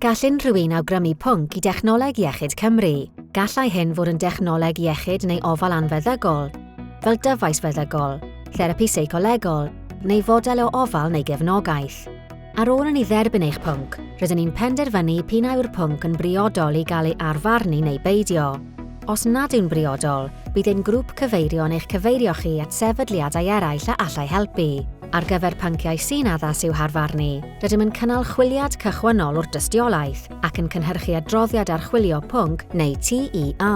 Gall unrhyw un awgrymu pwnc i Dechnoleg Iechyd Cymru. Gallai hyn fod yn dechnoleg iechyd neu ofal anfeddygol, fel dyfais feddygol, therapi seicolegol, neu fodel o ofal neu gefnogaeth. Ar ôl i ni dderbyn eich pwnc, rydyn ni'n penderfynu p'un a yw'r pwnc yn briodol i gael ei arfarnu neu beidio. Os nad yw'n briodol, bydd ein grŵp cyfeirio yn eich cyfeirio chi at sefydliadau eraill a allai helpu. Ar gyfer pynciau sy'n addas i'w harfer ni, rydym yn cynnal chwiliad cychwynnol o'r dystiolaeth ac yn cynhyrchu adroddiad archwilio pwnc neu TEA.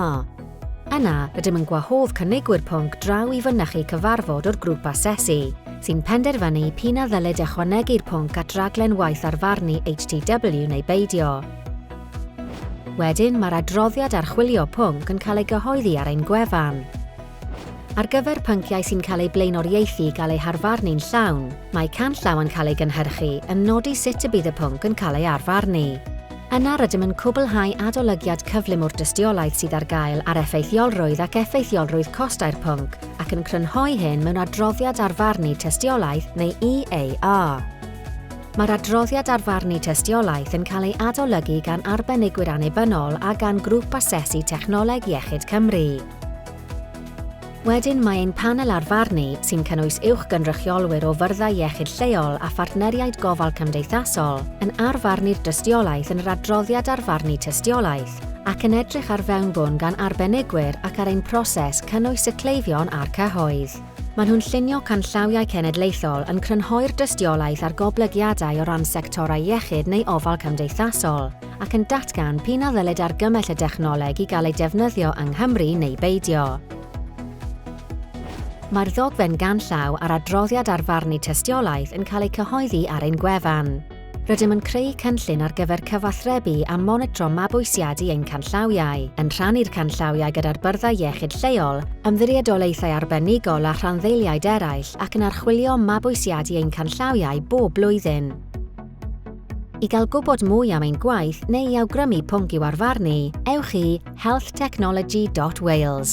Yna, rydym yn gwahodd cynigwyr pwnc draw i fynychu cyfarfod o'r Grŵp Asesu, sy'n penderfynu p'un a ddylid ychwanegu'r pwnc at raglen waith arfarnu HTW neu beidio. Wedyn, mae'r adroddiad archwilio pwnc yn cael ei gyhoeddi ar ein gwefan. Ar gyfer pynciau sy'n cael eu blaenoriaethu i gael eu harfarnu'n llawn, mae canllaw yn cael ei gynhyrchu yn nodi sut y bydd y pwnc yn cael ei arfarnu. Yna rydym yn cwblhau adolygiad cyflym o'r dystiolaeth sydd ar gael ar effeithiolrwydd ac effeithiolrwydd costau'r pwnc ac yn crynhoi hyn mewn adroddiad arfarnu tystiolaeth neu EAA. Mae'r adroddiad arfarnu tystiolaeth yn cael ei adolygu gan arbenigwyr annibynnol a gan Grŵp Asesu Technoleg Iechyd Cymru. Wedyn mae ein panel ar farnu sy'n cynnwys uwchgynrychiolwyr o fyrddau iechyd lleol a phartneriaid gofal cymdeithasol yn arfarnu'r dystiolaeth yn yr adroddiad arfarnu tystiolaeth ac yn edrych ar fewnbwn gan arbenigwyr ac ar ein proses cynnwys y cleifion a'r cyhoedd. Maen nhw'n llunio canllawiau cenedlaethol yn crynhoi'r dystiolaeth ar goblygiadau o ran sectorau iechyd neu ofal cymdeithasol. ac yn datgan p'un a ddylid argymell y dechnoleg i gael ei defnyddio yng Nghymru neu beidio. Mae'r ddogfen ganllaw a'r adroddiad ar farnu tystiolaeth yn cael eu cyhoeddi ar ein gwefan. Rydym yn creu cynllun ar gyfer cyfathrebu a monitro mabwysiadu ein canllawiau, yn rhannu'r canllawiau gyda'r byrddau iechyd lleol, ymddiriedolaethau arbenigol a rhanddeiliaid eraill ac yn archwilio mabwysiadu ein canllawiau bob blwyddyn. I gael gwybod mwy am ein gwaith neu i awgrymu pwnc i'w arfarnu, ewch i healthtechnology.wales.